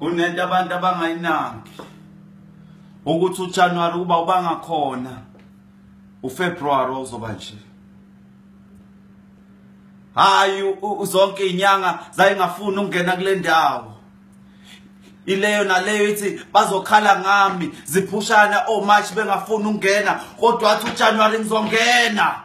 kunento abantu abangayinaki ukuthi uJanuary kuba ubangakhona uFebruary uzoba nje hayi zonke inyanga zayingafuni ukungena kule ndawo ileyo naleyo ithi bazokhala ngami ziphushana omarch bengafuni ukungena kodwa athi ujanuwari ngizongena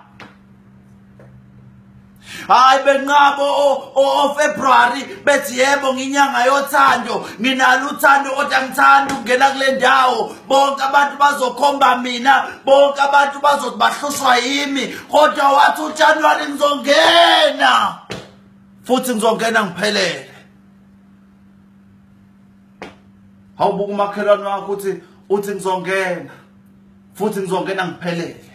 hayi benqabo ofebruary bethi yebo nginyanga yothando nginalo uthando kodwa ngithanda ukungena kule ndawo bonke abantu bazokhomba mina bonke abantu bazothi bahlushwa yimi kodwa wathi ujanuwari ngizongena futhi ngizongena ngiphelele hawubuka umakhelwane wakho uthi uthi ngizongena futhi ngizongena ngiphelele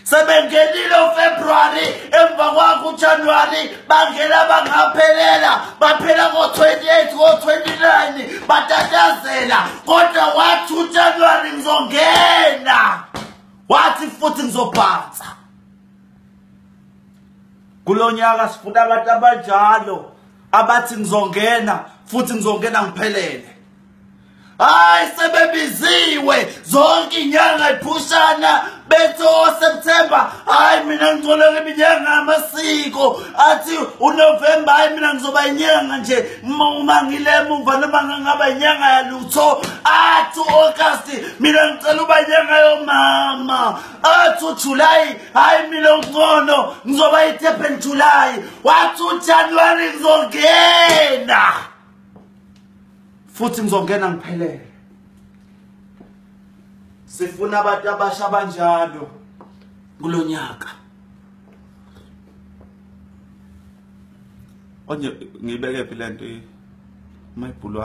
sebengenile ufebruwari emva kwakho ujanuwari bangena bangaphelela baphela ngo-28 ngo-29 batatazela kodwa wathi ujanuwari ngizongena wathi futhi ngizobhansa kulo nyaka sifuna abantu abanjalo abathi ngizongena futhi ngizongena ngiphelele hayi sebebiziwe zonke inyanga iphushana bethi oseptemba oh, hayi mina ngicoleka iminyanga amasiko athi unovemba hayi mina ngizoba inyanga nje uma ngile mumva noma ngangaba inyanga yalutho athi u-agasti mina ngicela uba inyanga yomama athi ujulayi hayi mina uncono ngizoba itepen julayi wathi ujanuwari ngizongena futhi ngizongena ngiphelele sifuna abantu abasha abanjalo kulonyaka onye ngibeke phi lento mayibhulwa